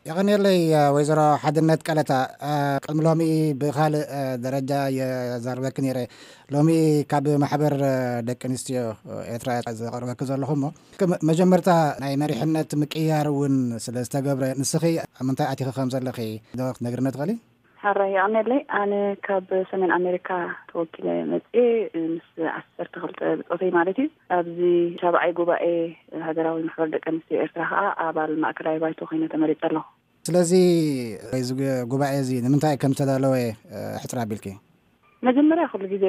የቐንየለይ ወይዘሮ ሓድነት ቀለታ ቅድሚ ሎሚ ብካልእ ደረጃ የዛርበኪ ነይረ ሎሚ ካብ ማሕበር ደቂ ኣንስትዮ ኤርትራ ዘቐርበኪ ዘለኹ እሞ መጀመርታ ናይ መሪሕነት ምቅያር እውን ስለ ዝተገብረ ንስኺ ኣብ ምንታይ ኣቲኺ ከም ዘለኺ ዶ ክትነግርኒ ትኽእሊ ሐራይ የቀኔለይ ኣነ ካብ ሰሜን ኣሜሪካ ተወኪለ መፅየ ምስ ዓሰርተ ክልተ ብፆተይ ማለት እዩ ኣብዚ ሻብዓይ ጉባኤ ሃገራዊ ማሕበር ደቂ ኣንስትዮ ኤርትራ ከዓ ኣባል ማእከላይ ባይቶ ኮይነ ተመሪፀ ኣለኩ። ስለዚ እዚ ጉባኤ እዚ ንምንታይ ከም ዝተዳለወ ሕፅር ኣቢልኪ። መጀመርያ ኩሉ ግዜ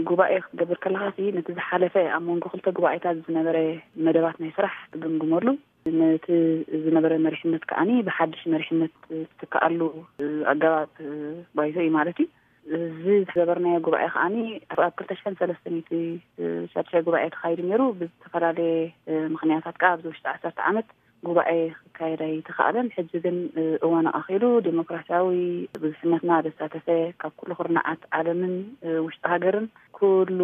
ጉባኤ ክትገብር ከለካ ነቲ ዝሓለፈ ኣብ መንጎ ክልተ ጉባኤታት ዝነበረ መደባት ናይ ስራሕ ትግምግመሉ ነቲ ዝነበረ መሪሕነት ከኣ ብሓድሽ መሪሕነት ዝትከኣሉ ኣገባብ ባይቶ እዩ ማለት እዩ። እዚ ዝገበርናዮ ጉባኤ ከኣ ኣብ ክልተ ሽሕን ሰለስተ ሚእቲ ሻድሻይ ጉባኤ ተኻይዱ ነይሩ ብዝተፈላለየ ምክንያታት ከኣ ኣብዚ ውሽጢ ዓሰርተ ዓመት ጉባኤ ክካየድ ኣይተኻእለን ሕጂ ግን እዋን ኣቓኺሉ ዴሞክራሲያዊ ብዙሕነትና ዘሳተፈ ካብ ኩሉ ኩርናዓት ዓለምን ውሽጢ ሃገርን ኩሉ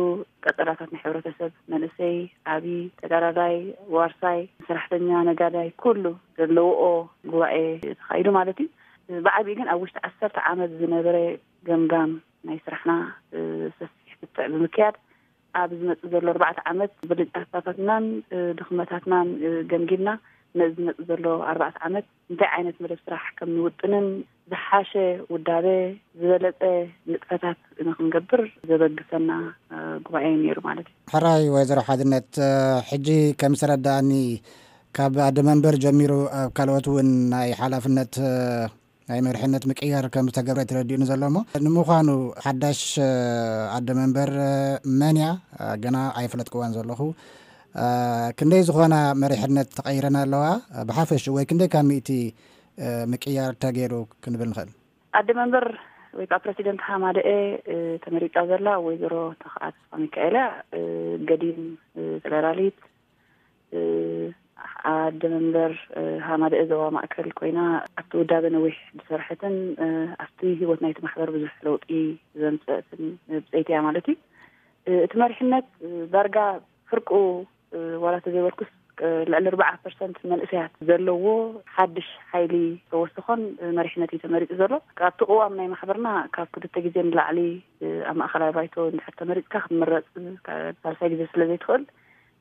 ቀጸላታት ናይ ሕብረተሰብ፣ መንእሰይ፣ ዓቢ፣ ተጋዳላይ፣ ዋርሳይ፣ ሰራሕተኛ፣ ነጋዳይ፣ ኩሉ ዘለውኦ ጉባኤ ተኻይዱ ማለት እዩ። ብዓቢኡ ግን ኣብ ውሽጢ ዓሰርተ ዓመት ዝነበረ ገምጋም ናይ ስራሕና ሰፊሕ ክትዕ ብምክያድ ኣብ ዝመጽእ ዘሎ ኣርባዕተ ዓመት ብልጫታታትናን ድኽመታትናን ገምጊምና ነዚ ዝመጽእ ዘሎ ኣርባዕተ ዓመት እንታይ ዓይነት መደብ ስራሕ ከም ንውጥንን ዝሓሸ ውዳበ ዝበለፀ ንጥፈታት ንክንገብር ዘበግሰና ጉባኤ እዩ ነይሩ ማለት እዩ። ሕራይ ወይዘሮ ሓድነት ሕጂ ከም ዝተረዳኣኒ ካብ ኣደ መንበር ጀሚሩ ኣብ ካልኦት እውን ናይ ሓላፍነት ናይ መርሕነት ምቅያር ከም ዝተገብረ ተረዲኡኒ ዘሎ እሞ ንምዃኑ ሓዳሽ ኣደ መንበር መን እያ ገና ኣይፈለጥክዋን ዘለኹ ክንደይ ዝኾና መሪሕነት ተቐይረን ኣለዋ ብሓፈሽኡ ወይ ክንደይ ካብ ሚእቲ ምቅያር ተገይሩ ክንብል ንኽእል? ኣደ መንበር ወይ ከዓ ፕረሲደንት ሃማደኤ ተመሪፃ ዘላ ወይዘሮ ተኽኣ ተስፋሚካኤል እያ። ገዲም ፌደራሊት ኣደ መንበር ሃማደኤ ዞባ ማእከል ኮይና ኣብቲ ውዳበ ነዊሕ ዝሰርሐትን ኣብቲ ህይወት ናይቲ ማሕበር ብዙሕ ለውጢ ዘምፀእትን ብፀይቲ እያ ማለት እዩ። እቲ መሪሕነት ዳርጋ ፍርቁ ዋላ ተዘይበልኩስ ልዕሊ ኣርባዓ ፐርሰንት መንእሰያት ዘለዎ ሓድሽ ሓይሊ ተወስኾን መሪሕነት እዩ ተመሪፁ ዘሎ። ካብቲ ቅዋም ናይ ማሕበርና ካብ ክልተ ግዜ ንላዕሊ ኣብ ማእኸላይ ባይቶ እንድሕር ተመሪፅካ ክትምረፅ ሳልሳይ ግዜ ስለዘይትኽእል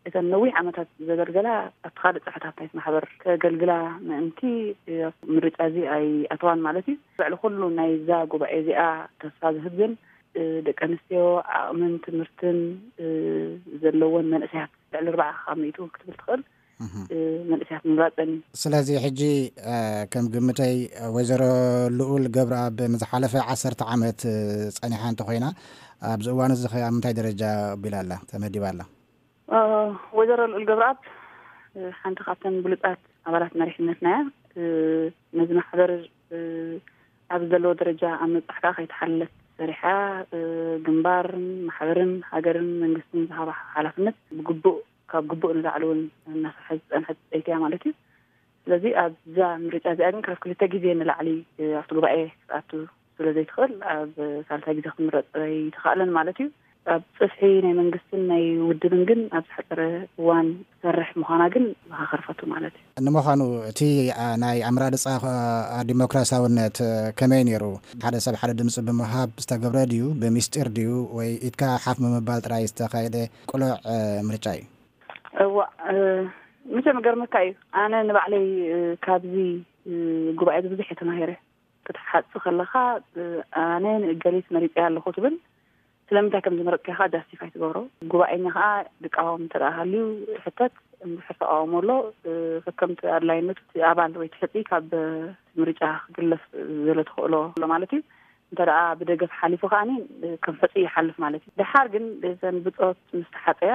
እተን ነዊሕ ዓመታት ዘገልገላ ኣብቲ ካልእ ጽፍሕታት ናይቲ ማሕበር ከገልግላ ምእንቲ ኣብቲ ምርጫ እዚ ኣይኣተዋን ማለት እዩ። ልዕሊ ኩሉ ናይዛ ጉባኤ እዚኣ ተስፋ ዝህብ ግን ደቂ ኣንስትዮ ዓቕምን ትምህርትን ዘለወን መንእሰያት ልዕሊ ኣርባዓ ካብ ሚእቱ ክትብል ትኽእል መንእሰያት ምምራጸን እዩ። ስለዚ ሕጂ ከም ግምተይ ወይዘሮ ልኡል ገብረኣብ ንዝሓለፈ ዓሰርተ ዓመት ጸኒሓ እንተኾይና ኣብዚ እዋን እዚ ከ ኣብ ምንታይ ደረጃ ኣቢላ ኣላ ተመዲባ ኣላ? ወይዘሮ ልኡል ገብረኣብ ሓንቲ ካብተን ብሉፃት ኣባላት መሪሕነትና እያ ነዚ ማሕበር ኣብ ዘለዎ ደረጃ ኣብ ምብፃሕ ከዓ ከይተሓለለት ሰሪሓ ግንባርን ማሕበርን ሃገርን መንግስትን ዝሃባ ሓላፍነት ብግቡእ ካብ ግቡእ ንላዕሊ እውን እናሰርሐ ዝፀንሐት ፀይቲ እያ ማለት እዩ ስለዚ ኣብዛ ምርጫ እዚኣ ግን ካብ ክልተ ግዜ ንላዕሊ ኣብቲ ጉባኤ ክትኣቱ ስለ ዘይትኽእል ኣብ ሳልሳይ ግዜ ክምረጽ ኣይተኻእለን ማለት እዩ። ኣብ ጽፍሒ ናይ መንግስትን ናይ ውድብን ግን ኣብ ዝሓጸረ እዋን ትሰርሕ ምዃና ግን መኻኸርፈቱ ማለት እዩ። ንምዃኑ እቲ ናይ ኣመራርጻ ዲሞክራሲያውነት ከመይ ነይሩ? ሓደ ሰብ ሓደ ድምጺ ብምሃብ ዝተገብረ ድዩ? ብሚስጢር ድዩ? ወይ ኢድካ ሓፍ ብምባል ጥራይ ዝተኻየደ ቅሉዕ ምርጫ እዩ? እዋእ መቸም ይገርመካ እዩ ኣነ ንባዕለይ ካብዚ ጉባኤዚ ብዙሕ እየ ተማሂረ። ክትሓጽ ከለኻ ኣነ ንእገሊት መሪጸያ ኣለኹ ትብል ስለምንታይ ከም ዝመረጽካዮ ከኣ ጃስቲፋይ ትገብሮ ጉባኤኛ ከኣ ድቃወም እንተ ሃልዩ ትሕተት እንድሕር ተቃውሞ ኣሎ ከከምቲ ኣድላይነቱ እቲ ኣባል ወይ ትሕጺ ካብ ምርጫ ክግለፍ ዘለ ተኽእሎ ኣሎ ማለት እዩ እንተ ብደገፍ ሓሊፉ ከዓኒ ከም ሕፁ ይሓልፍ ማለት እዩ ድሓር ግን ዘን ብፆት ምስ ተሓፀያ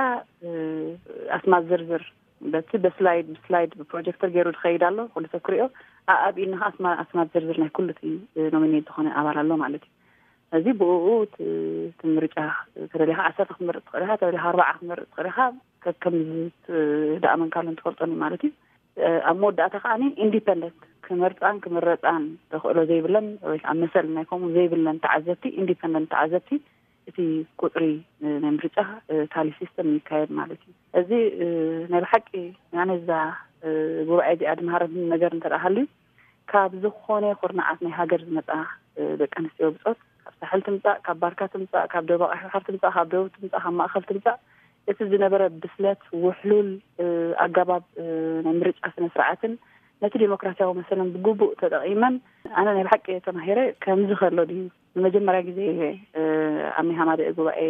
ኣስማት ዝርዝር በቲ በስላይድ ብስላይድ ብፕሮጀክተር ገይሩ ዝኸይድ ኣሎ ኩሉ ሰብ ክሪኦ ኣብ ኢድና ከዓ ስማ ስማ ዝርዝር ናይ ኩሉ እቲ ኖሚኔት ዝኾነ ኣባል ኣሎ ማለት እዩ እዚ ብኡ እቲ ምርጫ ተደሊኻ ዓሰርተ ክትመርፅ ትኽእል ኢኻ ተደሊኻ ኣርባዓ ክትመርፅ ትኽእል ኢኻ ከከም ዝደኣመንካሉ እንትፈልጦን እዩ ማለት እዩ ኣብ መወዳእታ ከዓ ኢንዲፐንደንት ክመርፃን ክምረፃን ተኽእሎ ዘይብለን ወይ ከዓ መሰል ናይ ከምኡ ዘይብለን ተዓዘብቲ ኢንዲፐንደንት ተዓዘብቲ እቲ ቁፅሪ ናይ ምርጫ ታሊ ሲስተም ይካየድ ማለት እዩ። እዚ ናይ ብሓቂ ኣነ እዛ ጉባኤ እዚኣ ድምሃረኒ ነገር እንተ ሃልዩ ካብ ዝኾነ ኩርናዓት ናይ ሃገር ዝመፃ ደቂ ኣንስትዮ ብፆት ካብ ሳሕል ትምፃእ ካብ ባርካ ትምፃእ ካብ ደቡብ ቀይሕ ባሕር ትምፃእ ካብ ደቡብ ትምፃእ ካብ ማእኸል ትምፃእ እቲ ዝነበረ ብስለት ውሕሉል ኣገባብ ናይ ምርጫ ስነ ስርዓትን ነቲ ዴሞክራሲያዊ መሰለን ብግቡእ ተጠቂመን ኣነ ናይ ብሓቂ ተማሂረ ከምዚ ከሎ ድዩ ንመጀመርያ ግዜ እየ ኣብ ናይ ሃማደኤ ጉባኤ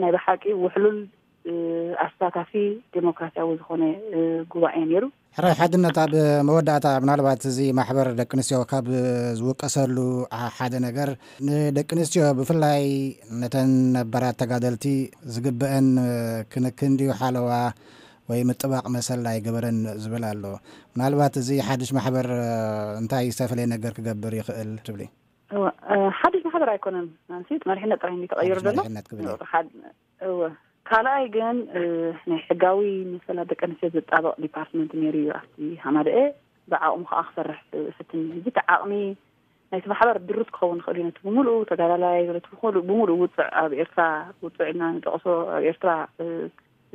ናይ ብሓቂ ውሕሉል ኣሳታፊ ዴሞክራሲያዊ ዝኾነ ጉባኤ ነይሩ። ሕራይ ሓድነት ኣብ መወዳእታ ምናልባት እዚ ማሕበር ደቂ ኣንስትዮ ካብ ዝውቀሰሉ ሓደ ነገር ንደቂ ኣንስትዮ ብፍላይ ነተን ነባራት ተጋደልቲ ዝግበአን ክንክን ድዩ ሓለዋ ወይ ምጥባቕ መሰል ኣይገበረን ዝብል ኣሎ ምናልባት እዚ ሓድሽ ማሕበር እንታይ ዝተፈለየ ነገር ክገብር ይኽእል ትብሊ? ሓድሽ ማሕበር ኣይኮነን ናንሲ መሪሕነት ጥራይ ተቐይሩ ዘሎ እወ ካልኣይ ግን ናይ ሕጋዊ መሰላት ደቂ ኣንስትዮ ዝጣበቕ ዲፓርትመንት ነይሩ እዩ ኣብቲ ሃማደኤ ብዓቕሙ ከዓ ክሰርሕ ፍትን እዚ እቲ ዓቕሚ ናይቲ ማሕበር ድሩት ክኸውን ይኽእል እዩ ነቲ ብምሉኡ ተጋዳላይ ቲ ብምሉኡ ውፅዕ ኣብ ኤርትራ ውፅዕ ኢልና ንጠቕሶ ኣብ ኤርትራ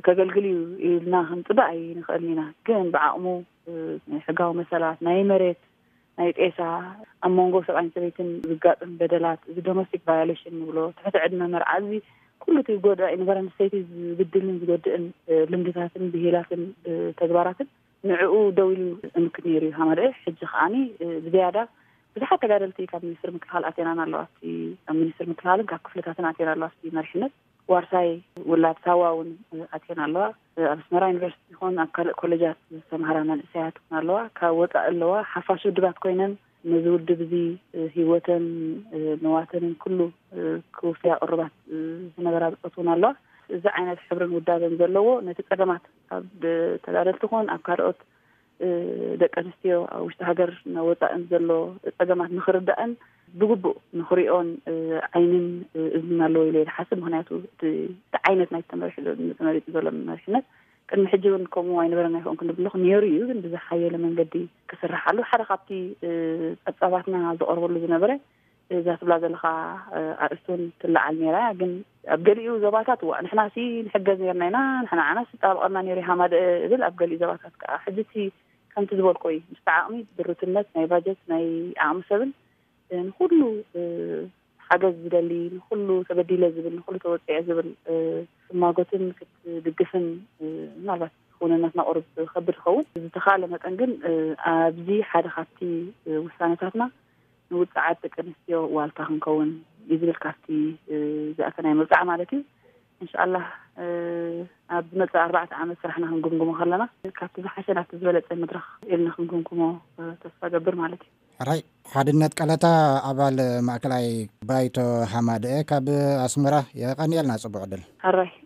ከገልግል እዩ ኢልና ክንፅበ ኣይንኽእልን ኢና ግን ብዓቕሙ ናይ ሕጋዊ መሰላት ናይ መሬት ናይ ጤሳ፣ ኣብ መንጎ ሰብኣይን ሰበይትን ዝጋጥም በደላት፣ እዚ ዶመስቲክ ቫዮሌሽን ንብሎ፣ ትሕቲ ዕድመ መርዓ፣ እዚ ኩሉ እቲ ጎዳኢ ንጓል ኣንስተይቲ ዝብድልን ዝጎድእን ልምድታትን ብሂላትን ተግባራትን ንዕኡ ደው ኢሉ ዝጥምክት ነይሩ እዩ ሃማደኤ። ሕጂ ከኣኒ ብዘያዳ ብዙሓት ተጋደልቲ ካብ ሚኒስትሪ ምክልኻል ኣትየናን ኣለዋ፣ ኣብቲ ሚኒስትሪ ምክልኻልን ካብ ክፍልታትን ኣትየን ኣለዋ ኣብቲ መሪሕነት። ዋርሳይ ውላድ ሳዋ እውን ኣትየን ኣለዋ። ኣብ ኣስመራ ዩኒቨርሲቲ ይኹን ኣብ ካልእ ኮለጃት ዝተምሃራ መንእሰያት እውን ኣለዋ። ካብ ወጻኢ ኣለዋ። ሓፋሽ ውድባት ኮይነን ነዚ ውድብ እዚ ህይወተን ንዋተንን ኩሉ ክውፍያ ቅሩባት ዝነበራ ብጾት እውን ኣለዋ። እዚ ዓይነት ሕብርን ውዳበን ዘለዎ ነቲ ጸገማት ኣብ ተጋደልቲ ይኹን ኣብ ካልኦት ደቂ ኣንስትዮ ኣብ ውሽጢ ሃገር ናብ ወፃእን ዘሎ ፀገማት ንክርዳእን ብግቡእ ንክሪኦን ዓይንን እዝንን ኣለዎ ኢለ ዝሓስብ ምክንያቱ እቲ ዓይነት ናይ ተመሪሑ ዘሎ መሪሕነት ቅድሚ ሕጂ እውን ከምኡ ኣይነበረን ኣይኸውን ክንብልኹ ነይሩ እዩ ግን ብዝሓየለ መንገዲ ክስርሓሉ ሓደ ካብቲ ፀብፃባትና ዝቐርበሉ ዝነበረ እዛ ትብላ ዘለኻ ኣርእስቲ እውን ትለዓል ነይራ እያ ግን ኣብ ገሊኡ ዞባታት እዋ ንሕና ሲ ንሕገዝ ነርና ኢና ንሕና ዓናስ ዝጣበቐና ነይሩ ሃማደእ እብል ኣብ ገሊኡ ዞባታት ከዓ ሕጂ እቲ ከምቲ ዝበልኮ እዩ ምስቲ ዓቕሚ ድሩትነት ናይ ባጀት ናይ ዓቕሚ ሰብን ንኩሉ ሓገዝ ዝደሊ ንኩሉ ተበዲለ ዝብል ንኩሉ ተወፂዐ ዝብል ክትማጎትን ክትድግፍን ምናልባት ክውንነትና ቁርብ ከብድ ይኸውን ብዝተኻለ መጠን ግን ኣብዚ ሓደ ካብቲ ውሳነታትና ንውጽዓት ደቂ ኣንስትዮ ዋልታ ክንከውን እዩ ዝብል ካብቲ ዝኣተናዮ መብጽዓ ማለት እዩ እንሻኣላህ ኣብ ዝመጽእ ኣርባዕተ ዓመት ስራሕና ክንግምግሞ ከለና ካብቲ ዝሓሸ ናብቲ ዝበለጸ መድረኽ ኢልና ክንግምግሞ ተስፋ ገብር ማለት እዩ ሕራይ ሓድነት ቀለታ ኣባል ማእከላይ ባይቶ ሃማደኤ ካብ ኣስመራ የቐንየልና ጽቡቕ ዕድል ሕራይ